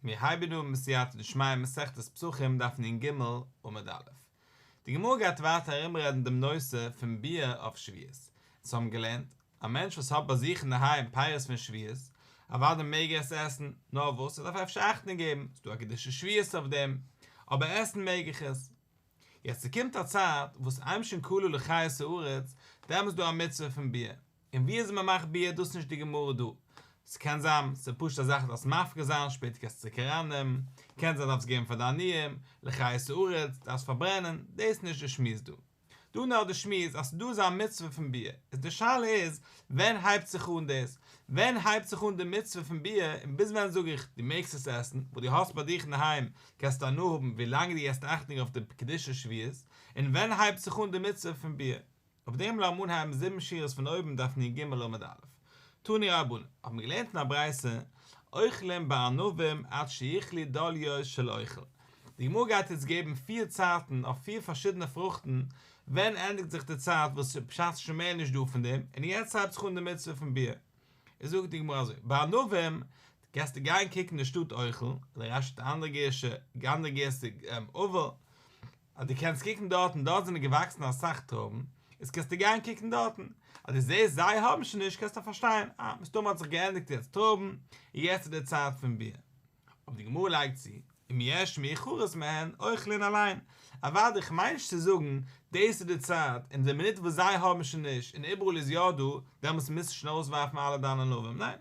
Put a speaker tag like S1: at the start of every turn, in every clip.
S1: מיר הייבן אן מיט סייעתא דשמיא מסכת פסחים דף נ ג עמוד א'. די גמרא גייט ווייטער ארומרעדן דעם נושא פון ביאה אויף שביעות. אונז האבן געלערנט, א מענטש וואס האט ביי זיך אינדערהיים פירות פון שביעות, אוודאי מעג ער עס עסן, נאר וואס ער דארף אפשר אכטונג געבן, ס'איז דא א קידושא שביעות אויף דעם, אבער עסן מעג איך עס. יעצט ס'קומט א צייט וואס אמשין כלו לחיות הארץ, דעמאלטס איז דא א מצוה פון ביאה. און ווי אזוי מען מאכט ביעור דאס נישט די גמרא דא. ס'קען זיין ס'איז פשוט א זאך דארפסט מפריש זיין שפעטער קענסט צוריק ארייננעמען, קען זיין דארפסט געבן פאר די עניים, לחיות הארץ, דארפסט פארברענען, דאס איז נישט די שמועס דא. דא נאר די שמועס אז ס'דא אזא מצוה פון ביעור, איז די שאלה איז ווען הייבט זיך אן דאס, ווען הייבט זיך אן די מצוה פון ביעור און ביז ווען זאג איך דו מעגסט עס עסן, וואס דו האסט ביי דיך אינדערהיים קענסטו הנאה האבן ווי לאנג דו געסט אכטונג אויף די קדושת שביעית, און ווען הייבט זיך אן די מצוה פון ביעור. אויף דעם לא אמון הייבן זיבן שורות פון אויבן דף נ ג עמוד א', תני רבנן, האט מען געלערנט אין א ברייתא, אוכלים בענבים עד שיכלי דליו של אוכל. די גמרא גייט יעצט געבן פיר צייטן אויף פיר פארשידענע פרוכטן, ווען ענדיגט זיך די צייט וואס בשעת שוין מער נישט דא פון דעם, און יעצט הייבט זיך אן די מצוה פון ביאה. איז זאגט די גמרא אזוי, בענבים, גייסטו גיין קוקן די שטאט אוכל, אדער רשי ט אנדערע גרסה, אנדערע גרסה אובל, אז דו קענסט קוקן דארטן, דארט זענען געוואקסן אסאך טרויבן, איז קענסטו גיין קוקן דארטן, אז דו זעסט זיי האבן שוין נישט קענסטו פארשטיין, אה, מסתמא האט זיך געענדיגט יעצט טרויבן, און יעצט איז די צייט פון ביר. אבער די גמרא לייגט צו, אם יש מי חרס מהן, אוכלין עליהן, אוודאי, איך מיין נישט צו זאגן, דאס איז די צייט, און די מינוט וואס זיי האבן שוין נישט, און איבעראל איז יא דא, דעמאלטס מוזסטו שוין אויסווארפן אלע דיינע ענבים, ניין?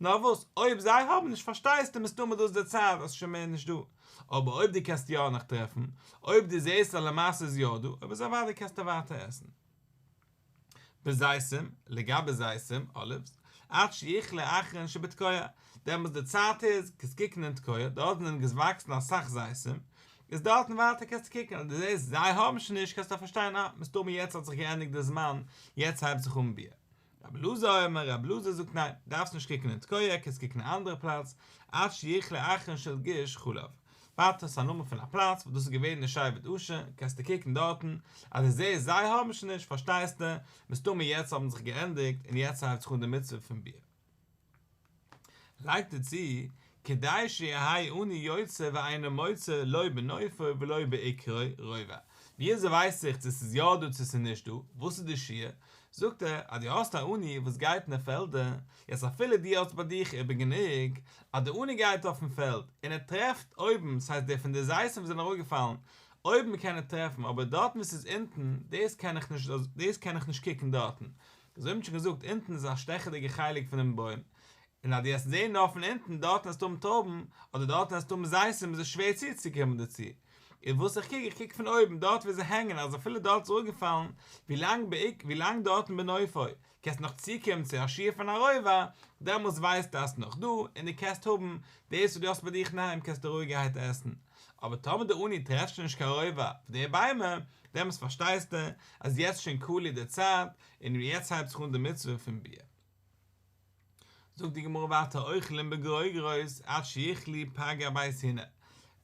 S1: נאר וואס, אויב זיי האבן נישט פארשטייסטו מסתמא דאס די צייט אז ס'איז שוין מער נישט דא, אבער אויב דו קענסט יא נאך טרעפן, אויב דו זעסט אז למעשה איז יא דא, אויב איז אוודאי קענסטו ווייטער עסן. בזיתים, לגבי זיתים, אליווס, עד שיכלה אחרון שבתקועה, דעמאלטס די צייט איז, קענסט קוקן אין תקועה, דארט זענען געוואקסן אסאך זיתים, איז דארטן ווייטער קענסטו קוקן, אז דו זעסט זיי האבן שוין נישט קענסטו פארשטיין אה, מסתמא יעצט האט זיך געענדיגט די זמן, יעצט הייבט זיך אן ביה. רבי אלעזר אומר, רבי אלעזר זאגט ניין, דארפסט נישט קוקן אין תקוה, קענסט קוקן אין א אנדערע פלאץ, עד שיכלה אחרון של גוש חלב, ווארט אויס א נאמען פון א פלאץ וואס דאס איז געווען די שבט אשר, קענסטו קוקן דארטן, אז דו זעסט זיי האבן שוין נישט, פארשטייסטו, מסתמא יעצט האבן זיך געענדיגט און יעצט הייבט זיך אן די מצוה פון ביר. לייגט ער צו, כדי שיהי' אינו יוצא ואינו מוצא לא בנופו ולא בעיקרו רובא, וויאזוי ווייס איך צו ס'איז יא דא צו ס'איז נישט דא, וואס איז די שיעור? זאגט ער, אז דו האסט א עני וואס גייט אין די פעלדער, יעצט אפילו דו האסט ביי דיך איבער גענוג, אז די עני גייט אויפן פעלד און ער טרעפט אויבן, ס'הייסט די פון די זיתים וואס זענען אראפגעפאלן, אויבן קען ער טרעפן, אבער דארטן וואו ס'איז אונטן, דאס קען איך נישט, דאס קען איך נישט קוקן דארטן. אזוי האט מען שוין געזאגט, אונטן איז א שטעכעדיגע חלק פונעם בוים, און אז דו וועסט זעהן נאר פון אונטן, דארטן וועסטו האבן טויבן, אדער דארטן וועסטו האבן זיתים, איז עס שווער צוצוקומען דערצו. און וואס איך קוק, איך קוק פון אויבן, דארט ווי זיי הענגען, אז אפילו דארט איז אראפגעפאלן, ווי לאנג בעיק, ווי לאנג דארטן בנופו, קענסטו נאך צוקומען צו א שיעור פון א רובע, דעמאלטס ווייסטו אז ס'נאך דא, און דו קענסט האבן, דאס וואס דו האסט ביי דיך אינדערהיים קענסטו רואיגערהייט עסן. אבער טאמער די אוני טרעפט שוין נישט קיין רוב אויף די ביימער, דעמאלטס פארשטייסטו אז יעצט שוין קאלירט די צייט, און יעצט הייבט זיך אן די מצוה פון ביאה. זאגט די גמרא ווייטער אוכלים בגרוגרות עד שיכלי פגר בית הנה,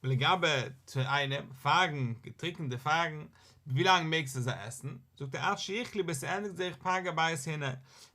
S1: ולגבי תאנים, פייגן, געטריקענטע פייגן, ווילאנג מעגסטו זיי עסן? זאגט ער עד שיכלי ביז ס'ענדיגט זיך פגר בית הנה,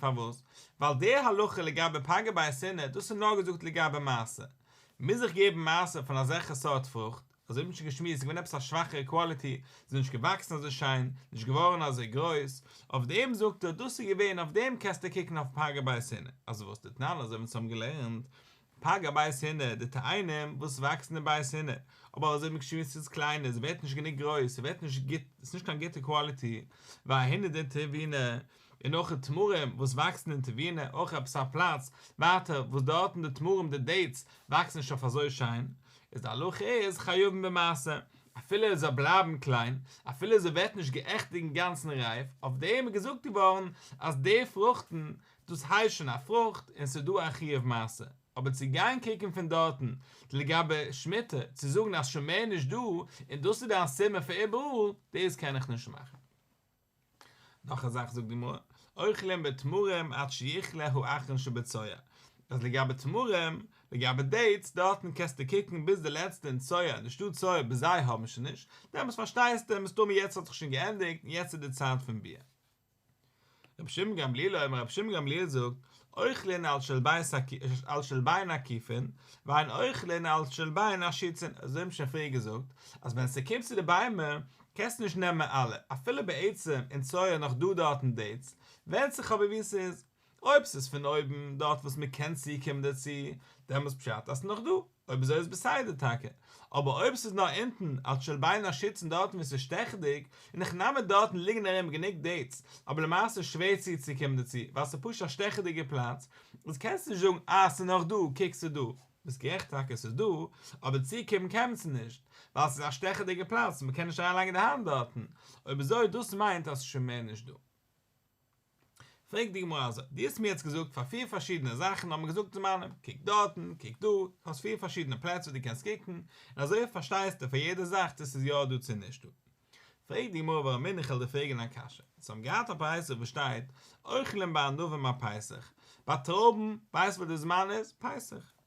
S1: פארוואס? ווייל די הלכה לגבי פגע ביי השנאה, דאס איז נאר געזאגט לגבי מעשר. מוז איך געבן מעשר פון אזעלכע סארט פרוכט? אזוי האט מען שוין געשמועסט, ס'איז געווען עפעס א שוואכערע קוואליטי, ס'איז נישט געוואקסן אזוי שיין, נישט געווארן אזוי גרויס, אויף דעם זאגט ער דאס איז געווען, אויף דעם קענסטו קוקן אויף פגע ביי השנאה. אז וואס די טענה, אזוי ווי אונז האבן געלערנט, פג א בית הינער, די תאנים וואס וואקסן אין בית הינער, אבער אזוי ווי געשריבן איז צו קליין, עס ווערט נישט גענוג גרויס, עס ווערט נישט גוט, עס איז נישט קיין גוטע קוואליטי, ווייל א הינער דינט טעווינע, און אויך די תמרים וואס וואקסן אין טעווינע, אויך עפעס א פלאץ ווייטער וואס דארטן די תמרים די דעיטס וואקסן נישט אויף אזוי שיין, איז די הלכה איז חיובים במעשר, אפילו עס זאל בלייבן קליין, אפילו עס ווערט נישט גערעכט אינגאנצן רייף, אויף דעם איז געזאגט געווארן אז די פרוכטן דאס הייסט שוין א פרוכט און ס'איז דא א חיוב מעשה, אבער צו גיין קוקן פון דארטן לגבי שמיטה צו זאגן אז שוין מער נישט דא און דאס איז דיין סימן פאר איבעראל, דאס קען איך נישט מאכן. נאך א זאך זאגט די גמרא, אוכלים בתמרים עד שיכלה האחרון שבצואה, אז לגבי תמרים, לגבי דעיטס, דארטן קענסטו קוקן ביז די לעצטע אין צואה און נישטא צואה ביז זיי האבן שוין נישט, דעמאלטס פארשטייסטו מסתמא יעצט האט זיך שוין געענדיגט און יעצט איז די צייט פון ביאה. רבי שמעון גמליאל אויב רבי שמעון גמליאל זאגט אוכלין על של בין עקיפין ואין אוכלין על של בין עשיצין אזוי האבן שוין פריער געזאגט אז ווען ס'קומט צו די ביימער קענסטו נישט נעמען אלע אפילו בעצם אין צואה נאך דא דארטן דעיטס ווענדט זיך אבער ווי ס'איז אויב ס'איז פון אויבן דארט וואס מ'קען צוקומען דערצו, דעמאלטס פשט אז ס'נאך דא, אויב אזוי איז בסדר טאקע, אבער אויב ס'איז נאר אונטן אלס שלביין א שיצן דארטן וואו ס'איז שטעכעדיג, און איך נאם אן דארטן ליגן ארום גענוג דעיטס, אבער למעשה שווער צוצוקומען דערצו ווייל ס'איז פשוט א שטעכעדיגע פלאץ, איז קענסטו נישט זאגן אה ס'איז נאך דא, קוק ס'איז דא. ביסט גערעכט טאקע ס'איז דא, אבער צוקומען קען מען צו נישט, ווייל ס'איז א שטעכעדיגע פלאץ און מ'קען נישט אריינלייגן די האנט דארטן, אויב אזוי דאס מיינט אז ס'איז שוין מער נישט דא. פרעגט די גמרא אזוי, דו האסט מיר יעצט געזאגט פאר פיר פארשידענע זאכן האבן געזאגט זמנים, קוק דארטן, קוק דא, דו האסט פיר פארשידענע פלעצער וואו דו קענסט קוקן, און אזוי פארשטייסט דו פאר יעדע זאך צו ס'איז יא דא צו נישט דא. פרעגט די גמרא ווארום בין איך על דער פרעגען א קשיא, זיי האבן געהאט א פסח וואס שטייט אוכלים ביי ענבים א פסח, ביי טרויבן ווייסט ווען די זמן איז? פסח.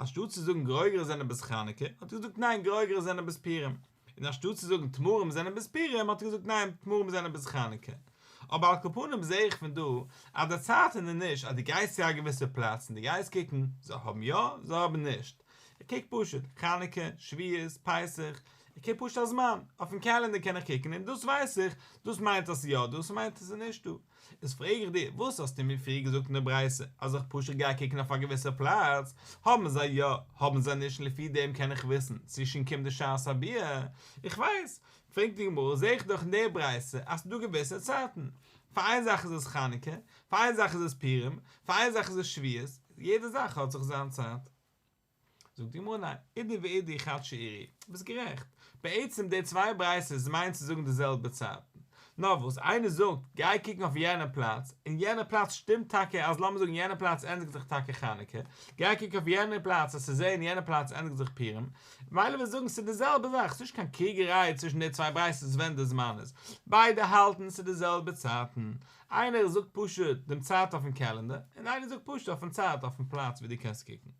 S1: אנשטאט צו זאגן גרויגערע זענען בס חנוכה האט ער געזאגט ניין גרויגערע זענען בס פורים, און אנשטאט צו זאגן תמרים זענען בס פורים האט ער געזאגט ניין תמרים זענען בס חנוכה. אבער על כל פנים זעה איך פון דא אז די צייט איז ננישט אז דו גייסט צו א געוויסע פלאץ און דו גייסט קוקן זיי האבן יא זיי האבן נישט, איך קוק פשוט חנוכה, שביעות, פסח, איך קוק פשוט א זמן, אויפן קעלענדער קען איך קוקן און דאס ווייס איך דאס מיינט אז ס'איז יא דא ס'מיינט אז ס'איז נישט דא, איז פרעג איך דיר, וואס האסטו מיר פריער געזאגט אין די ברייתא אז איך פשוט גיי קוקן אויף א געוויסע פלאץ, האבן זיי יא, האבן זיי נישט, לפי דעם קען איך וויסן צו שוין קומט די שעת הביאה, איך ווייס, פרעגט די גמרא, זעה איך דאך אין די ברייתא אז ס'איז דא געוויסע צייטן, פאר איין זאך איז עס חנוכה, פאר איין זאך איז עס פורים, פאר איין זאך איז עס שביעות, יעדע זאך האט זיך זיין צייט. זאגט די גמרא ניין, עדי ועדי חד שעירי, ביסט גערעכט, בעצם די צוויי ברייתות מיינט צו זאגן די זעלבע צייטן, נאר וואס איינער זאגט גיי קוקן אויף יענע פלאץ, און יענע פלאץ שטימט טאקע אז לאמיר זאגן יענע פלאץ ענדיגט זיך טאקע חנוכה, גיי קוק אויף יענע פלאץ אז צו זען יענע פלאץ ענדיגט זיך פורים, מילא וועסט זאגן ס'איז די זעלבע זאך, ס'איז נישט קיין קריגעריי צווישן די צוויי ברייתות ווען די זמן איז, ביידע האלטן ס'איז די זעלבע צייטן, איינער זאגט פשוט דעם צייט אויפן קעלענדער און איינער זאגט פשוט אויפן צייט אויפן פלאץ ווי דו קענסט קוקן.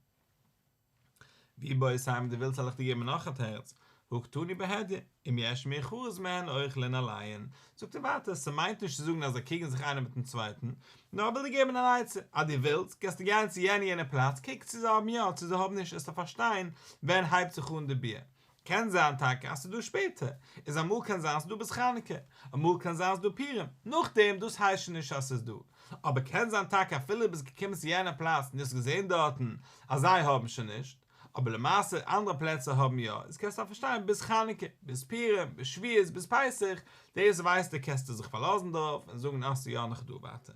S1: ווי בויעסט איין ווען דו ווילסט זאל איך דיר געבן נאך א תירוץ, הוגתני בהדיא, אם יש מי חרוז מהן אויך לן אליין. זאגט ער ווייטער, ס'מיינט נישט צו זאגן אז זיי קריגן זיך איינער מיטן צווייטן, נאר איך וויל דיר געבן אן עצה, אז דו ווילסט, קענסטו גיין צו יענע יענע פלאץ, קוק צו זיי האבן יא, צו זיי האבן נישט, עסטו פארשטיין ווען הייבט זיך אן די ביה, קען זיין טאקע אז ס'איז דא שפעטער, איז אמאל קען זיין ס'איז דא ביז חנוכה, אמאל קען זיין ס'איז דא פורים, נאכדעם דאס הייסט שוין נישט אז ס'איז דא, אבער קען זיין טאקע אפילו דו ביסט געקומען צו יענע פלאץ און דו האסט געזען דארטן אז זיי האבן שוין נישט, אבער למעשה אנדערע פלעצער האבן יא, איז קענסטו פארשטיין ביז חנוכה, ביז פורים, ביז שביעות, ביז פסח, דאס ווייסטו קענסטו זיך פארלאזן דערויף און זאגן אז ס'איז יא נאך דא ווייטער.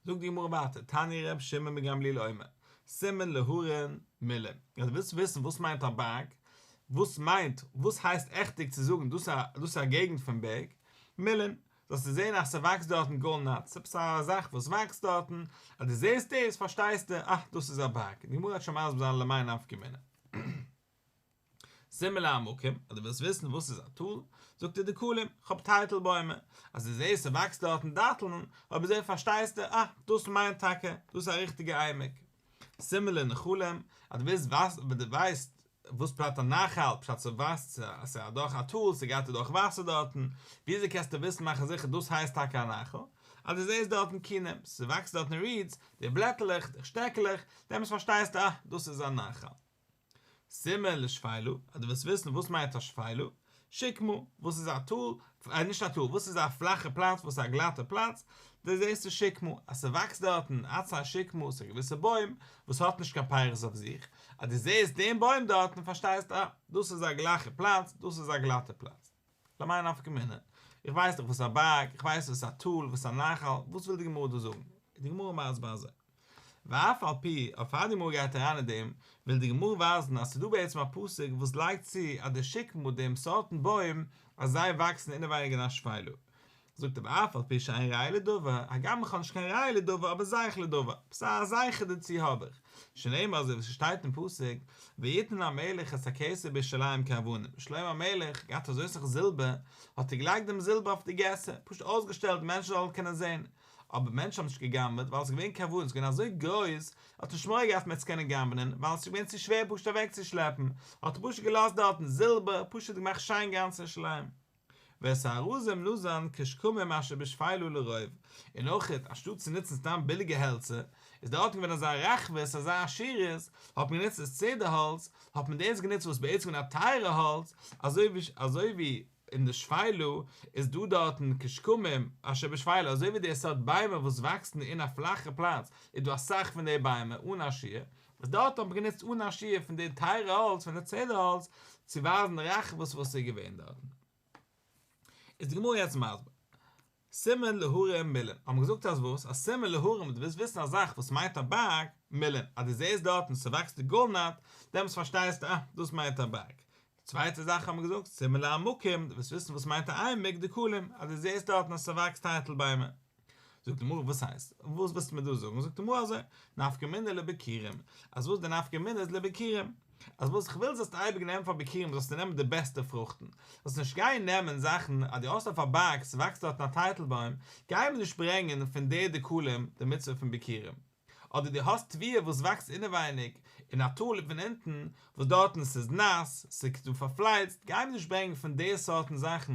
S1: זאגט די גמרא ווייטער, תני ר' שמעון בן גמליאל אומר, סימן להרן מילא, אז דו ווילסט וויסן וואס מיינט א בארג, וואס מיינט, וואס הייסט עכטיג צו זאגן דאס א, דאס א געגנט פון בערג, מילין, זאלסטו זען אז ס'וואקסט דארטן גאר נאטס, עפעס א זאך וואס וואקסט דארטן, אז דו זעסט דאס פארשטייסטו, אה, דאס איז א בארג, די גמרא האט שוין מסביר זיין למאי נפקא מינה. זימ מ לה מקום, אז דו ווילסט וויסן וואס איז א טאל, זאגט דיר די קלים, כ'האב טייטל בוימער, אז דו זעהסט ס'וואקסט דארטן דאטלן, אויב אזוי פארשטייסטו, אה, דאס מיינט טאקע, דאס איז א ריכטיגע עמק. זימ מ לה נחלים, אז דו ווילסט ווייסן אויב דו ווייסט וואס פשט א נחל, פשט אז דו ווייסט אז ס'איז אדורך א טאל, ס'גייט אדורך וואסער דארטן, וויאזוי קענסטו וויסן מאכן זיכער דאס הייסט טאקע א נחל, אז דו זעהסט דארטן קנים, ס'וואקסט דארטן רידס, די בלעטעלעך, די שטעקעלעך, דעמאלטס פארשטייסטו, אה, דאס איז א נחל. סימן לשפילו, אז דו ווילסט וויסן וואס מיינט א שפילו, שיק מא, וואס איז א טאל, אה, נישט א טאל, וואס איז א פלאכע פלאץ, וואס איז א גלאטע פלאץ, דו זעסט די שיק מא, אז ס'וואקסט דארטן, עצי השיק מא, ס'איז א געוויסע בוים, וואס האט נישט קיין פירות אויף זיך, אז דו זעסט דעם בוים דארטן, פארשטייסטו, אה, דאס איז א גלאכע פלאץ, דאס איז א גלאטע פלאץ. למאי נפקא מינה? איך ווייס דאך וואס א בארג, איך ווייס וואס א טאל, וואס א נחל, וואס וויל די גמרא דא זאגן? איז די גמרא מסביר אזוי. ואף על פי, אבער פאר די גמרא גייט אריין אין דעם, וויל די גמרא ווייזן אז ס'איז דא בעצם א פסוק וואס לייגט צו אז די שקמה, דעם סארטן בוים, אז זיי וואקסן אינעווייניג אין א שפייל. זאגט ער אף על פי שאין ראיה לדבר, הגם איך האב נישט קיין ראיה לדבר אבער זייך לדבר, ס ה א זייכער דערצו האב איך, שנאמר אזוי ווי ס'שטייט אין פסוק, ויתן המלך את הכסף בירושלים כאבנים, שלמה המלך געהאט אזוי סאך זילבער, האט ער געלייגט דעם זילבער אויף די געסער, פשוט אויסגעשטעלט די מענטשן זאלן קענען זען, אבער מענטשן האבן נישט גע'גנב'עט ווייל עס איז געווען כאבנים, עס איז געווען אזוי גרויס, ער האט נישט מורא געהאט פון עס קענען גנב'נען, ווייל עס איז געווען צו שווער פשוט אוועקצושלעפן, האט ער פשוט געלאזט דארטן זילבער, פשוט געמאכט שיין גאנץ ירושלים. ווער ס'ארזים לוזאן כשקמים אשר בשפילו לרוב, און אויך אנשטאט צו נוצן סתם ביליגע העלצער, איז דארטן געווען אזא רחבות, אזא עשירות, האט מען גענוצט דאס צעדער האלץ, האט מען דאס גענוצט וואס בעצם איז א טייערע האלץ, אזוי ווי אין די שפילו איז דא דארטן כשקמים אשר בשפילו, אזוי ווי די סארט ביימער וואס וואקסן אין א פלאכע פלאץ איז דא אסאך פון די ביימער אן א שיעור, וואס דארט האט מען גענוצט אן א שיעור פון די טייערע האלץ פון די צעדער האלץ צו ווייזן רחבות וואס איז געווען דארטן איז די גמרא יעצט מסביר סימן להרים מילין האט מען געזאגט אז וואס אז סימן להרים די ווילסט וויסן א זאך וואס מיינט א בארג מילין אז די זעסט דארטן ס'וואקסט די גאלנאט דעמאלטס פארשטייסטו אה דאס מיינט א בארג צווייטע זאך האט מען געזאגט, סימילער א מקום, דו ווילסט וויסן וואס מיינט א עמק דקלים, אז דו זעסט דארטן אז ס'וואקסט טייטל ביימער. זאגט די מרא וואס הייסט? וואס ווילסטו מיר דא זאגן? זאגט די מרא אזוי, נפקא מינה לביכירים, אז וואס די נפקא מינה איז לביכירים, אז וואס איך וויל זאלסטו אייביג נעמען פאר ביכירים זאלסטו נעמען די בעסטע פרוכטן, זאלסט נישט גיין נעמען זאכן אז דו האסט אויף א בארג ס'וואקסט דארטן א טייטל בוים, גיי מיר נישט ברענגען פון די דקלים די מצוה פון ביכירים. אדער דו האסט טבעי וואס וואקסט אינעווייניג און א טוליפ פון אונטן וואס דארטן ס'איז נאס ס'איז דא פארפלייצט גיי מיר נישט ברענגן פון די סארטן זאכן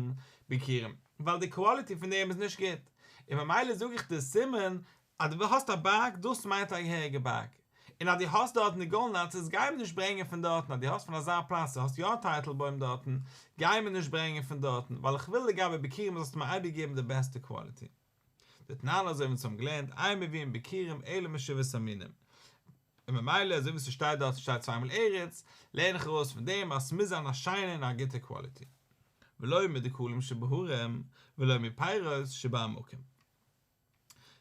S1: ביכירים ווייל די קוואליטי פון דעם איז נישט גוט און ממילא זאג איך דיר סימן אז דו האסט א בארג דאס מיינט א געהעריגע בארג און אז דו האסט דארטן די גאלנאצעס גיי מיר נישט ברענגן פון דארטן אז דו האסט פון אזא פלאץ האסט יא א טייטל בוים דארטן גיי מיר נישט ברענגן פון דארטן ווייל איך וויל לגבי ביכירים זאלסטו מיר אייביג געבן די בעסטע קוואליטי. דתנן אזוי ווי אונז האבן געלערנט אין מביאים בקירים אלא משבעת המינים, און ממילא אזוי ווי ס'שטייט דארט ס'שטייט צוויי מאל ארץ, לערן איך ארויס פון דעם אז ס'מוז זיין א שיינע און א גוטע קוואליטי. ולא מדקלים שבהרים, ולא מפירות שבעמקים.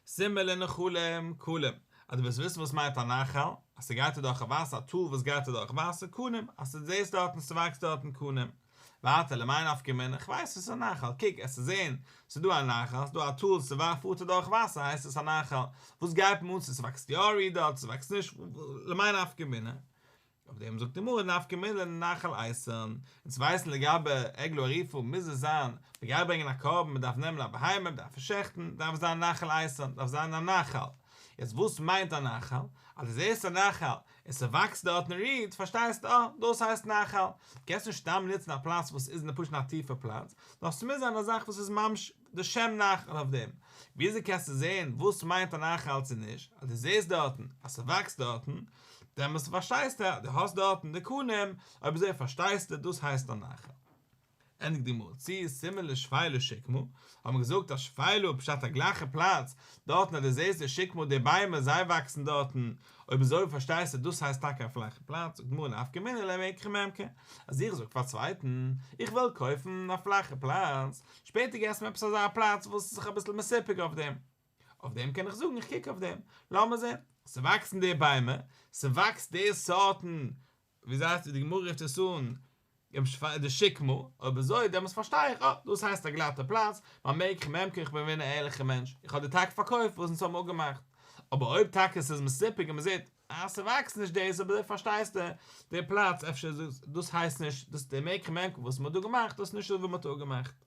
S1: סימן לנחלים קלים, אז דו ווילסט וויסן וואס מיינט א נחל, אז ס'גייט אדורך א וואסער, א טאל וואס גייט אדורך וואסער, קנים, אז ס'זעסט דארטן ס'וואקסט דארטן קנים. ווייטער למאי נפקא מינה, כ'ווייס ס'איז א נחל, קוק עסט איז אין, ס'איז דא א נחל, ס'איז דא א טאל, ס'וואר פארט ער דורך וואסער הייסט עס א נחל, וואס גייט מען אן צו ס'וואקסט יא רי דארט ס'וואקסט נישט למאי נפקא מינה, אויף דעם זאגט די גמרא נפקא מינה לנחל אייסערן, און צו ווייסן לגבי עגלא עריפא מוז עס זיין, מ'גייט ברענגען א קרבן מ'דארף נעמען א בהמה מ'דארף עס שעכטן, דארף עס זיין נחל אייסערן, דארף זיין א נחל, יעצט וואס מיינט א נחל, אז דו זעסט א נחל, און ס'וואקסט דארט און רוהט, פארשטייסט? אה, דאס הייסט נחל. קענסט נישט סתם נוצן א פלאץ וואס איז אין די פשט א טיפע פלאץ, נאר ס'מוז זיין א זאך וואס איז ממש די שם נחל אויף דעם. וויאזוי קענסטו זעהן וואס מיינט א נחל צו נישט? אז דו זעהסט דארטן אז ס'וואקסט דארטן, דעמאלטס פארשטייסטו אז דו האסט דארטן די קנים, אויב אזוי פארשטייסטו דאס הייסט א נחל. ענדיגט די גמרא, צו סימן לשפילו שקמו, האט מען געזאגט אז שפילו פשט א גלייכע פלאץ, דארטן אז דו זעסט די שקמו די ביימער זיי וואקסן דארטן, אויב אזוי פארשטייסטו דאס הייסט טאקע א פלאכע פלאץ, זאגט די גמרא נפקא מינה ליה מעיקרא מעמקא, אז איך זאג פאר א צווייטן איך וויל קויפן א פלאכע פלאץ, שפעטער געסט מיר עפעס אזא פלאץ וואס איז זיך אביסל מסופק אויף דעם, אויף דעם קען איך זאגן איך קוק אויף דעם, לאמיר זען, ס'וואקסן די ביימער, ס'וואקסט די סארטן ווי זייט ווי די גמרא רופט עס אן די שקמה, אויב אזוי דעמאלטס פארשטיי איך, אה, דאס הייסט א גלאטע פלאץ, מיין מעיק איך מעמק איך בין געווען א ערליכע מענטש, איך האב דיר טאקע פארקויפט וואס אונז האבן אפגעמאכט, אבער אויב טאקע עס איז מסופק און מען זעט אז ס'וואקסט נישט דאס, אויב אזוי פארשטייסטע די פלאץ אפשר דאס הייסט נישט דאס די מעיק איך מעמק איך וואס מען האט דא געמאכט דאס איז נישט דאס וואס מען האט אפגעמאכט.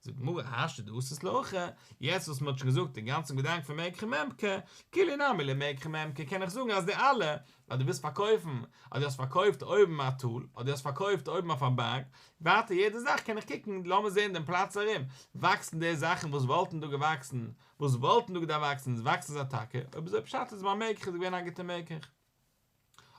S1: זאגט די גמרא האשא דאסס לאחר, יעצט וואס מ'האט שוין געזאגט די גאנצע געדאנק פון מעג כ'ם מעם כ, כולי נמי ליה מעג כ'ם מעם כ קען איך זאגן אז די אלע, אז דו ווילסט פארקויפן, אז דו האסט פארקויפט אויבן א טאל, אז דו האסט פארקויפט אויבן אויף א בארג, ווייטער יעדע זאך קען איך קוקן, לאמיר זען דעם פלאץ ארום, וואקסן דאס זאכן וואס וואלטן דא געוואקסן, וואס וואלטן דא געדארפט וואקסן, וואקסן זיי טאקע, אויב איז אויב פשט איז ביי מעג כ'איז געווען א גוטע מעג כ'ם.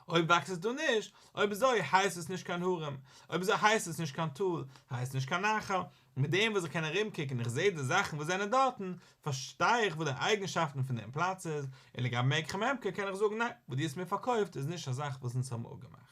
S1: אויב וואקסט עס דא נישט, אויב אזוי הייסט עס נישט קיין הרים, אויב אזוי הייסט עס נישט קיין טאל, הייסט נישט קיין נחל, מיט דעם וואס איך קען ארום קוקן און איך זעה די זאכן וואס זענען דארטן, פארשטיי איך וואס די אייגנשאפטן פון דעם פלאץ איז, און לגבי מיקח ממכר קען איך זאגן ניין, וואס דו האסט מיר פארקויפט איז נישט א זאך וואס אונז האבן אפגעמאכט.